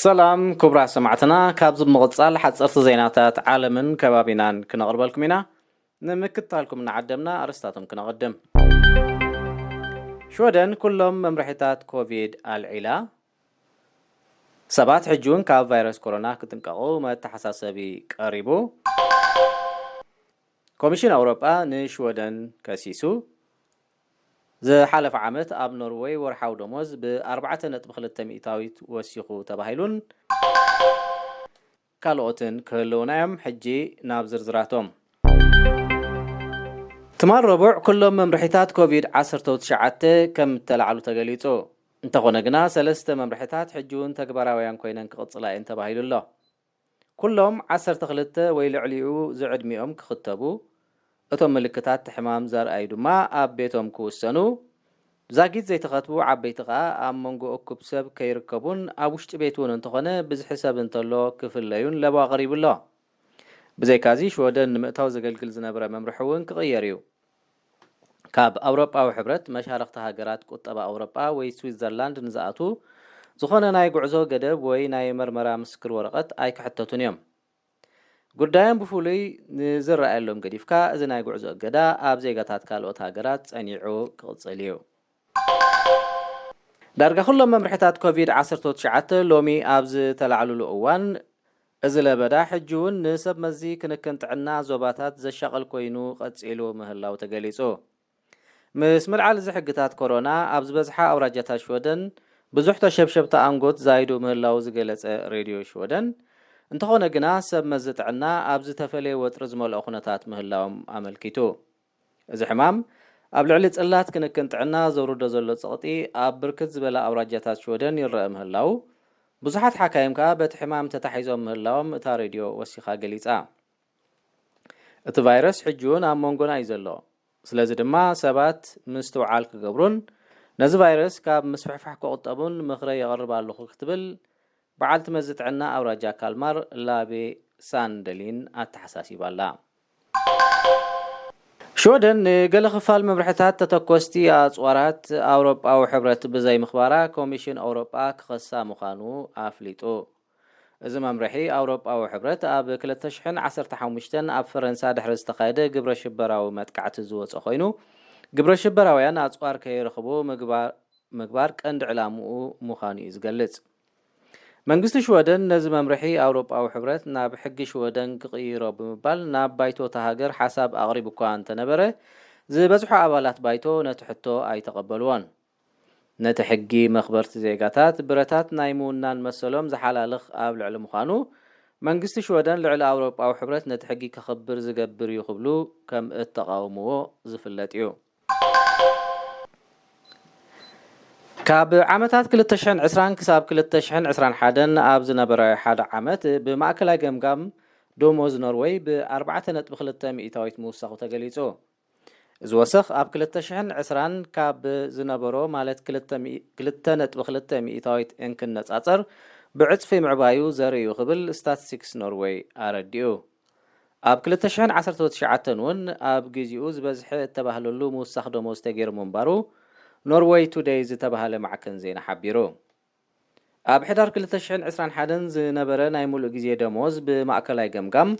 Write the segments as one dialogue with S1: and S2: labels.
S1: ሰላም ክቡራት ሰማዕትና ካብዚ ብምቕፃል ሓፀርቲ ዜናታት ዓለምን ከባቢናን ክነቕርበልኩም ኢና ንምክትታልኩም እናዓደምና ኣርስታቶም ክነቕድም ሽወደን ኩሎም መምርሒታት ኮቪድ ኣልዒላ ሰባት ሕጂ እውን ካብ ቫይረስ ኮሮና ክጥንቀቑ መተሓሳሰቢ ቀሪቡ ኮሚሽን ኣውሮጳ ንሽወደን ከሲሱ፣ ዝሓለፈ ዓመት ኣብ ኖርወይ ወርሓዊ ደሞዝ ብ ኣርባዕተ ነጥቢ ክልተ ሚእታዊት ወሲኹ ተባሂሉን ካልኦትን ክህልዉና'ዮም፣ ሕጂ ናብ ዝርዝራቶም። ትማል ረቡዕ ኩሎም መምርሒታት ኮቪድ ዓሰርተው ትሽዓተ ከም እተላዕሉ ተገሊጹ፣ እንተኾነ ግና ሰለስተ መምርሒታት ሕጂ'ውን ተግባራውያን ኮይነን ክቕጽላ'የን ተባሂሉ'ሎ። ኩሎም ዓሰርተ ክልተ ወይ ልዕሊኡ ዝዕድሚኦም ክኽተቡ፣ እቶም ምልክታት እቲ ሕማም ዘርኣዩ ድማ ኣብ ቤቶም ክውሰኑ፣ ዛጊት ዘይተኸትቡ ዓበይቲ ከኣ ኣብ መንጎ እኩብ ሰብ ከይርከቡን ኣብ ውሽጢ ቤት እውን እንተኾነ ብዝሒ ሰብ እንተሎ ክፍለዩን ለበዋ ኣቕሪቡ ኣሎ። ብዘይካዚ ሽወደን ንምእታው ዘገልግል ዝነበረ መምርሒ እውን ክቕየር እዩ። ካብ ኣውሮጳዊ ሕብረት፣ መሻርኽቲ ሃገራት ቁጠባ ኣውሮጳ ወይ ስዊትዘርላንድ ንዝኣትዉ ዝኾነ ናይ ጉዕዞ ገደብ ወይ ናይ መርመራ ምስክር ወረቐት ኣይክሕተቱን እዮም። ጉዳዮም ብፍሉይ ንዝረኣየሎም ገዲፍካ፣ እዚ ናይ ጉዕዞ እገዳ ኣብ ዜጋታት ካልኦት ሃገራት ጸኒዑ ክቕጽል እዩ። ዳርጋ ኩሎም መምርሕታት ኮቪድ ዓሰርተ ትሽዓተ ሎሚ ኣብ ዝተላዕልሉ እዋን፣ እዚ ለበዳ ሕጂ'ውን ንሰብ መዚ ክንክን ጥዕና ዞባታት ዘሻቕል ኮይኑ ቀጺሉ ምህላዉ ተገሊጹ። ምስ ምልዓል እዚ ሕግታት ኮሮና፣ ኣብ ዝበዝሓ ኣውራጃታት ሽወደን ብዙሕ ተሸብሸብታ ኣንጎት ዛይዱ ምህላዉ ዝገለጸ ሬድዮ ሽወደን፣ እንተኾነ ግና ሰብ መዚ ጥዕና ኣብ ዝተፈለየ ወጥሪ ዝመልኦ ኩነታት ምህላዎም ኣመልኪቱ። እዚ ሕማም ኣብ ልዕሊ ጽላት ክንክን ጥዕና ዘውርዶ ዘሎ ጸቕጢ ኣብ ብርክት ዝበላ ኣውራጃታት ሽወደን ይረኣ ምህላዉ፣ ብዙሓት ሓካይም ከኣ በቲ ሕማም ተታሒዞም ምህላዎም እታ ሬድዮ ወሲኻ ገሊጻ። እቲ ቫይረስ ሕጂ'ውን ኣብ መንጎና እዩ ዘሎ፣ ስለዚ ድማ ሰባት ምስትውዓል ክገብሩን ነዚ ቫይረስ ካብ ምስፍሕፋሕ ክቑጠቡን ምኽረይ የቕርብ ኣለኹ ክትብል በዓልቲ መዚ ጥዕና ኣውራጃ ካልማር ላቤ ሳንደሊን ኣተሓሳሲባ'ላ። ሽወደን ንገለ ክፋል መምርሕታት ተተኮስቲ ኣጽዋራት ኣውሮጳዊ ሕብረት ብዘይምኽባራ ኮሚሽን ኣውሮጳ ክኸሳ ምዃኑ ኣፍሊጡ። እዚ መምርሒ ኣውሮጳዊ ሕብረት ኣብ ክልተ ሽሕን ዓሰርተ ሓሙሽተን ኣብ ፈረንሳ ድሕሪ ዝተኻየደ ግብረሽበራዊ መጥቃዕቲ ዝወጸ ኮይኑ ግብረሽበራውያን ኣጽዋር ከይረኽቡ ምግባር ቀንዲ ዕላምኡ ምዃኑ'ዩ ዝገልጽ። መንግስቲ ሽወደን ነዚ መምርሒ ኣውሮጳዊ ሕብረት ናብ ሕጊ ሽወደን ክቕይሮ ብምባል ናብ ባይቶ እታ ሃገር ሓሳብ ኣቕሪቡ'ኳ እንተነበረ፣ ዝበዝሑ ኣባላት ባይቶ ነቲ ሕቶ ኣይተቐበልዎን። ነቲ ሕጊ መኽበርቲ ዜጋታት ብረታት ናይ ምውናን መሰሎም ዝሓላልኽ ኣብ ልዕሊ ምዃኑ፣ መንግስቲ ሽወደን ልዕሊ ኣውሮጳዊ ሕብረት ነቲ ሕጊ ከኽብር ዝገብር እዩ ክብሉ ከምእተቓውምዎ ዝፍለጥ'ዩ። ካብ ዓመታት ክልተ ሽሕን ዕስራን ክሳብ ክልተ ሽሕን ዕስራን ሓደን ኣብ ዝነበረ ሓደ ዓመት ብማእከላይ ገምጋም ደሞዝ ኖርወይ ብ ኣርባዕተ ነጥቢ ክልተ ሚኢታዊት ምውሳኹ ተገሊጹ። እዚ ወሰኽ ኣብ ክልተ ሽሕን ዕስራን ካብ ዝነበሮ ማለት ክልተ ነጥቢ ክልተ ሚኢታዊት እንክነጻጸር ብዕጽፊ ምዕባዩ ዘርኢ'ዩ ክብል ስታትስቲክስ ኖርወይ ኣረዲኡ። ኣብ ክልተ ሽሕን ዓሰርተው ትሽዓተን እውን ኣብ ግዜኡ ዝበዝሐ እተባህለሉ ምውሳኽ ደሞዝ ተገይሩ ምንባሩ ኖርወይ ቱደይ ዝተባህለ ማዕከን ዜና ሓቢሩ። ኣብ ሕዳር ክልተ ሽሕን ዕስራን ሓደን ዝነበረ ናይ ምሉእ ግዜ ደሞዝ ብማእከላይ ገምጋም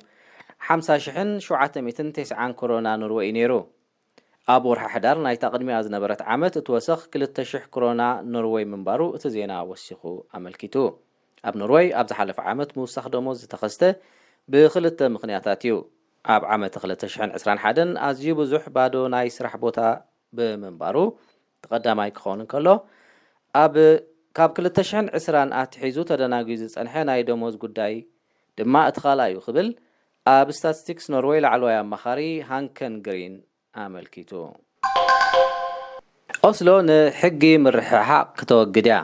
S1: ሓምሳ ሽሕን ሸውዓተ ሚእትን ቴስዓን ክሮና ኖርወይ እዩ ነይሩ። ኣብ ወርሒ ሕዳር ናይታ ቅድሚኣ ዝነበረት ዓመት እቲ ወሰኽ ክልተ ሽሕ ክሮና ኖርወይ ምንባሩ እቲ ዜና ወሲኹ ኣመልኪቱ። ኣብ ኖርወይ ኣብ ዝሓለፈ ዓመት ምውሳኽ ደሞዝ ዝተኸስተ ብኽልተ ምኽንያታት እዩ። ኣብ ዓመተ ክልተ ሽሕን ዕስራን ሓደን ኣዝዩ ብዙሕ ባዶ ናይ ስራሕ ቦታ ብምንባሩ እቲ ቀዳማይ ክኸውን እንከሎ፣ ኣብ ካብ ክልተ ሽሕን ዕስራን ኣትሒዙ ተደናጉዩ ዝጸንሐ ናይ ደሞዝ ጉዳይ ድማ እቲ ካልኣይ'ዩ ክብል ኣብ ስታትስቲክስ ኖርወይ ላዕለዋይ ኣማኻሪ ሃንከን ግሪን ኣመልኪቱ። ኦስሎ ንሕጊ ምርሕሓቕ ክተወግድ እያ።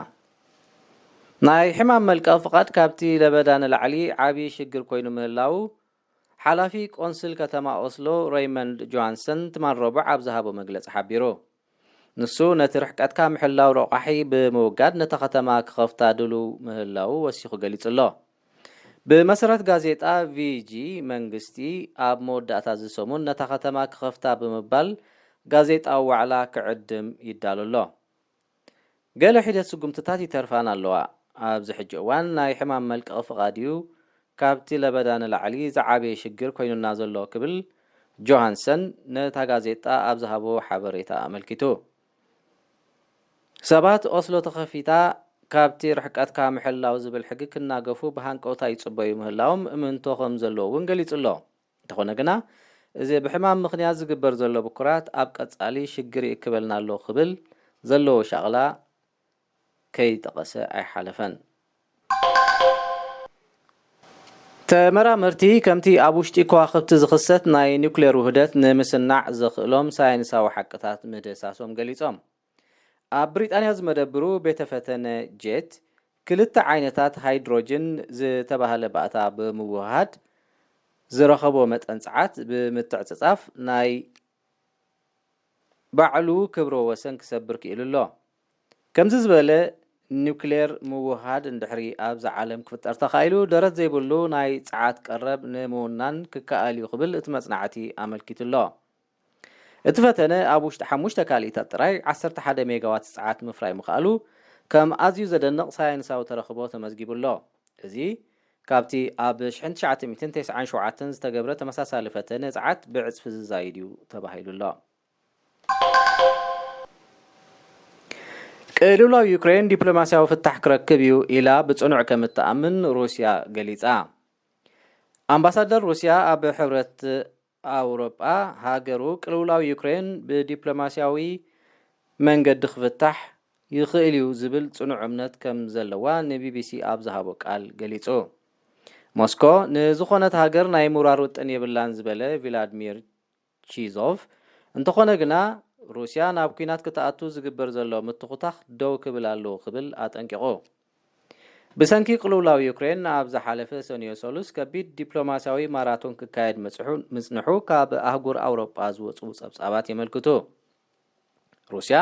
S1: ናይ ሕማም መልቀቒ ፍቓድ ካብቲ ለበዳ ንላዕሊ ዓቢ ሽግር ኮይኑ ምህላዉ ሓላፊ ቆንስል ከተማ ኦስሎ ረይመንድ ጆሃንሰን ትማል ረቡዕ ኣብ ዝሃቦ መግለጺ ሓቢሩ። ንሱ ነቲ ርሕቀትካ ምሕላው ረቋሒ ብምውጋድ ነታ ከተማ ክኸፍታ ድሉው ምህላዉ ወሲኹ ገሊጹ'ሎ። ብመሰረት ጋዜጣ ቪጂ፣ መንግስቲ ኣብ መወዳእታ'ዚ ሰሙን ነታ ከተማ ክኸፍታ ብምባል ጋዜጣዊ ዋዕላ ክዕድም ይዳሎ'ሎ። ገለ ሒደት ስጉምትታት ይተርፋን ኣለዋ። ኣብዚ ሕጂ እዋን ናይ ሕማም መልቀቒ ፍቓድ እዩ ካብቲ ለበዳ ንላዕሊ ዝዓበየ ሽግር ኮይኑና ዘሎ ክብል ጆሃንሰን ነታ ጋዜጣ ኣብ ዝሃቦ ሓበሬታ ኣመልኪቱ። ሰባት ኦስሎ ተኸፊታ ካብቲ ርሕቀትካ ምሕላው ዝብል ሕጊ ክናገፉ ብሃንቀውታ ይጽበዩ ምህላዎም እምንቶ ከምዘለዎ'ውን ገሊጹ'ሎ። እንተኾነ ግና እዚ ብሕማም ምኽንያት ዝግበር ዘሎ ብኩራት ኣብ ቀጻሊ ሽግር ይእክበልና ኣሎ ክብል ዘለዎ ሻቕላ ከይጠቐሰ ኣይሓለፈን። ተመራመርቲ ከምቲ ኣብ ውሽጢ ከዋኽብቲ ዝኽሰት ናይ ኒኩሌር ውህደት ንምስናዕ ዘኽእሎም ሳይንሳዊ ሓቅታት ምድህሳሶም ገሊጾም። ኣብ ብሪጣንያ ዝመደብሩ ቤተ ፈተነ ጄት፣ ክልተ ዓይነታት ሃይድሮጅን ዝተባህለ ባእታ ብምውህሃድ ዝረኸቦ መጠን ጸዓት ብምትዕጽጻፍ ናይ ባዕሉ ክብረ ወሰን ክሰብር ክኢሉ ኣሎ። ከምዚ ዝበለ ኒውክሌር ምውህሃድ እንድሕሪ ኣብዛ ዓለም ክፍጠር ተኻኢሉ፣ ደረት ዘይብሉ ናይ ጸዓት ቀረብ ንምውናን ክከኣል እዩ ክብል እቲ መጽናዕቲ ኣመልኪቱ ኣሎ። እቲ ፈተነ ኣብ ውሽጢ ሓሙሽተ ካልኢታት ጥራይ ዓሰርተ ሓደ ሜጋዋት ጸዓት ምፍራይ ምኽኣሉ ከም ኣዝዩ ዘደንቕ ሳየንሳዊ ተረኽቦ ተመዝጊቡ ኣሎ። እዚ ካብቲ ኣብ ሽሕን ትሽዓተ ሚእትን ተስዓን ሸውዓተን ዝተገብረ ተመሳሳሊ ፈተነ ጸዓት ብዕጽፊ ዝዛይድ እዩ ተባሂሉ ኣሎ። ቅልውላው ዩክሬን ዲፕሎማስያዊ ፍታሕ ክረክብ እዩ ኢላ ብጽኑዕ ከም እትኣምን ሩስያ ገሊጻ። ኣምባሳደር ሩስያ ኣብ ሕብረት ኣውሮጳ፣ ሃገሩ ቅልውላው ዩክሬን ብዲፕሎማስያዊ መንገዲ ክፍታሕ ይኽእል'ዩ ዝብል ጽኑዕ እምነት ከም ዘለዋ ንቢቢሲ ኣብ ዝሃቦ ቃል ገሊጹ። ሞስኮ ንዝዀነት ሃገር ናይ ምውራር ውጥን የብላን ዝበለ ቪላድሚር ቺዞቭ፣ እንተዀነ ግና ሩስያ ናብ ኲናት ክትኣቱ ዝግበር ዘሎ ምትዅታኽ ደው ክብል ኣለዎ ክብል ኣጠንቂቑ። ብሰንኪ ቅልውላው ዩክሬን ኣብ ዝሓለፈ ሰኑዮ ሰሉስ ከቢድ ዲፕሎማስያዊ ማራቶን ክካየድ ምጽሑ ምጽንሑ ካብ ኣህጉር ኣውሮጳ ዝወጹ ጸብጻባት የመልክቱ። ሩስያ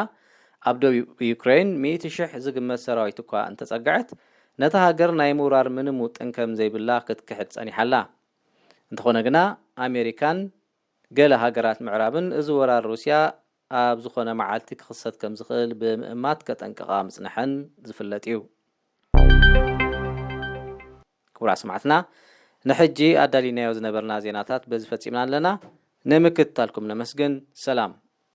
S1: ኣብ ደቡብ ዩክሬን ሚእቲ ሽሕ ዝግመት ሰራዊት እኳ እንተጸግዐት ነታ ሃገር ናይ ምውራር ምንም ውጥን ከም ዘይብላ ክትክሕድ ጸኒሓ ኣላ። እንተኾነ ግና ኣሜሪካን ገለ ሃገራት ምዕራብን እዚ ወራር ሩስያ ኣብ ዝኾነ መዓልቲ ክኽሰት ከም ዝኽእል ብምእማት ከጠንቅቓ ምጽንሐን ዝፍለጥ እዩ። ክቡራት ሰማዕትና ንሕጂ ኣዳሊናዮ ዝነበርና ዜናታት በዚ ፈጺምና ኣለና። ንምክትታልኩም ነመስግን። ሰላም።